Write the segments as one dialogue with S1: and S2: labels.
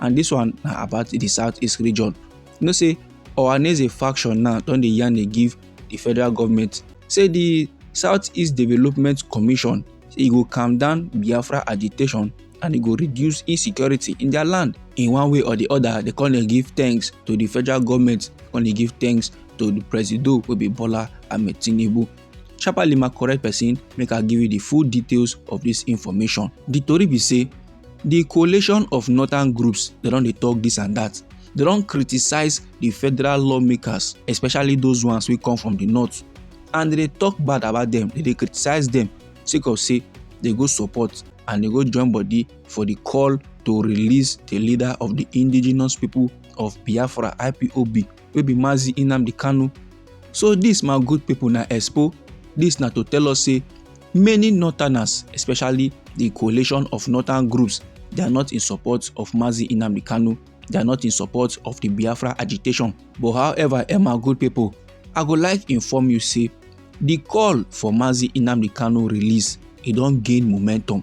S1: and this one na about the southeast region you know say ohaneze faction now don dey yarn dey give the federal government say the southeast development commission say e go calm down biafra agitation and e go reduce insecurity in their land in one way or the other they come dey give thanks to the federal government come dey give thanks to the presido wey be bola ahmed tinubu sharparly ma correct person make i give you the full details of this information the tori be say di coalition of northern groups dem don dey talk this and that dem don criticize di federal lawmakers especially those ones wey come from di north and dem dey talk bad about dem dem dey criticize dem sake of say dem go support and dem go join body for di call to release di leader of di indigenous people of biafra ipob wey be mazi nnamdi kanu so dis my good pipo na expo dis na to tell us say many northerners especially di coalition of northern groups they are not in support of mazi nnamdi kanu they are not in support of di biafra agitation but however eh my good pipo i go like inform you say di call for mazi nnamdi kanu release e don gain momentum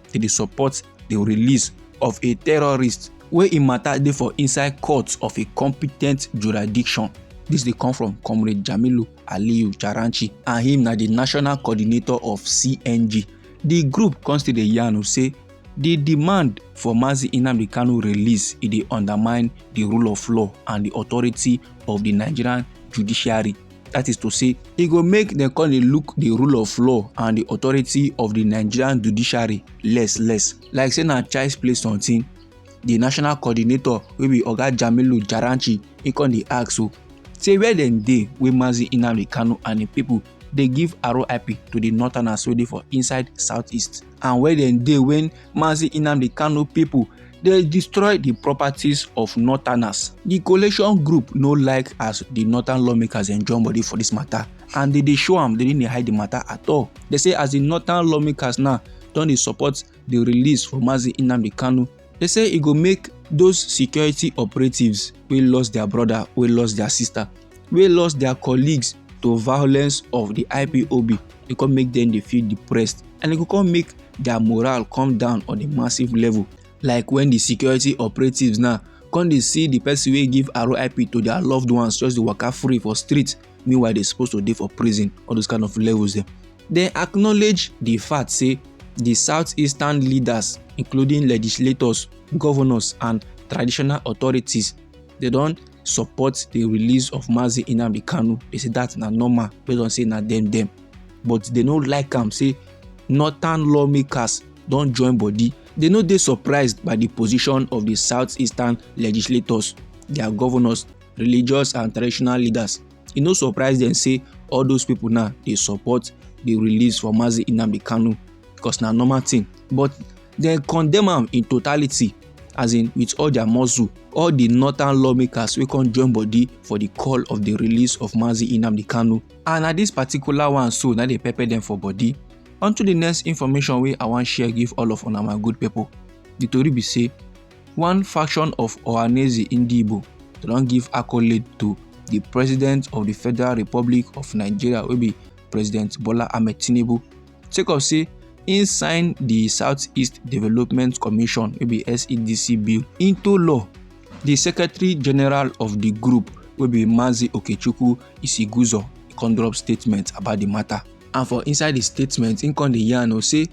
S1: to dey support di release of a terrorist wey im matter dey for inside court of a competent jurisdiction This dey come from Comrade Jamilu Aliyu Charanchi and him na the national coordinator of CNG. The group come still dey yarn o say the demand for Mazi Nnamdi Kanu release e dey undermine the rule of law and the authority of the Nigerian judiciary. That is to say, e go make dem come dey look the rule of law and the authority of the Nigerian judiciary less less. Like say na child's play something. The national coordinator wey be Oga Jamilu Jaranchi he come dey ask so say where dem dey wey Mazi Nnamdi Kanu and im people dey give RIP to the northerners wey dey for inside southeast. and where dem dey when Mazi Nnamdi Kanu people dey destroy the properties of northerners. The coalition group no like as the northern lawmakers dem join body for this matter and they dey show am they no dey hide the matter at all. They say as the northern lawmakers now don dey support the release for Mazi Nnamdi Kanu They say e go make those security operatives wey lost their brother, wey lost their sister, wey lost their colleagues to violence of the IPOB, e come make them dey feel depressed and e go come make their morale come down on a massive level. Like when the security operatives now come dey see the person wey give RIP to their loved ones just dey waka free for street meanwhile they supposed to dey for prison all those kind of levels dem dem acknowledge the fact say the southeastern leaders including legislators governors and traditional authorities they don support the release of mazi nnamdi kanu they say that na normal based on say na dem dem but they no like am say northern lawmakers don join body they no dey surprised by the position of the southeastern legislators their governors religious and traditional leaders e no surprise dem say all those people now dey support the release for mazi nnamdi kanu because na normal thing but dem condemn am in totality as in with all their muscle all the northern lawmakers wey come join body for the call of the release of mazi nnamdi kanu and na this particular one so na dey pepper dem for body unto the next information wey i wan share give all of una my good people the tori be say One faction of Ohaneze Ndigbo don give accolade to di president of di Federal Republic of Nigeria wey be President Bola Ahmed Tinubu sake of say im sign di Southeast Development Commission wey be SEDC bill into law. Di Secretary General of di group wey be Mazi Okechukwu Isiguzo come drop statement about di matter. And for inside di statement im come dey yarn o say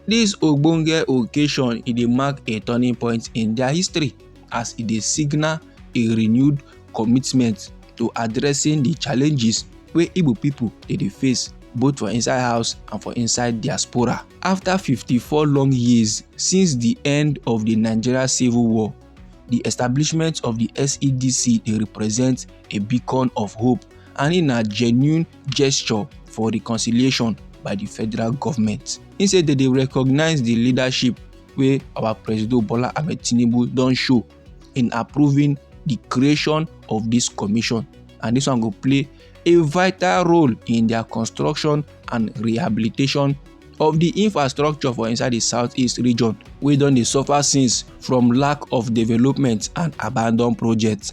S1: dis ogbonge occasion e dey mark a turning point in dia history as e dey signal a renewed commitment to addressing di challenges wey igbo pipo dey dey face both for inside house and for inside diaspora. After 54 long years since the end of the Nigeria Civil War, the establishment of the SEDC they represent a beacon of hope and in a genuine gesture for reconciliation by di federal goment im say dem dey recognise di leadership wey our presido bola ahmed tinubu don show in approving di creation of dis commission and dis one go play a vital role in dia construction and rehabilitation of di infrastructure for inside di southeast region wey don dey suffer since from lack of development and abandoned projects.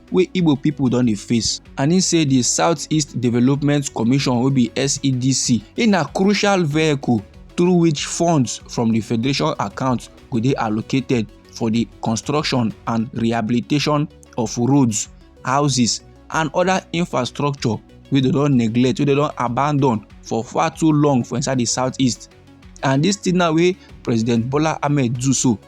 S1: wey igbo pipo don dey face and im say di southeast development commission wey be sedc e na crucial vehicle through which funds from di federation account go dey allocated for di construction and rehabilitation of roads houses and oda infrastructure wey dem don neglect wey dem don abandon for far too long for inside di southeast and dis thing now wey president bola ahmed do so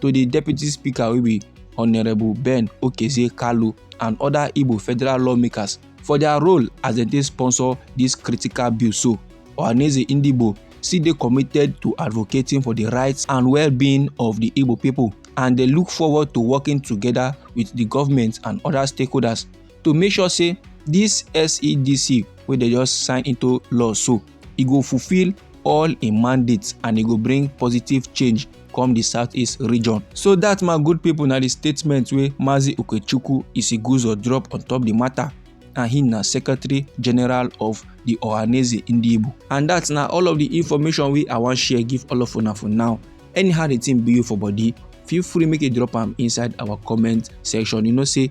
S1: to the deputy speaker wey be honourable ben okezie kalu and other igbo federal lawmakers for their role as dem dey sponsor this critical bill so ohaneze ndigbo still dey committed to advocating for the rights and well-being of the Igbo people, and they look forward to working together with the government and other stakeholders to make sure say this SEDC wey they just sign into law so e go fulfil all im mandates and e go bring positive change come di southeast region. so dat my good pipo na di statement wey mazi okechukwu isiguzo drop on top di matter and he na secretary general of the ohaneze ndibu and that's na all of the information wey i wan share give all of una for now anyhow the thing be you for body feel free make you drop am inside our comment section you know say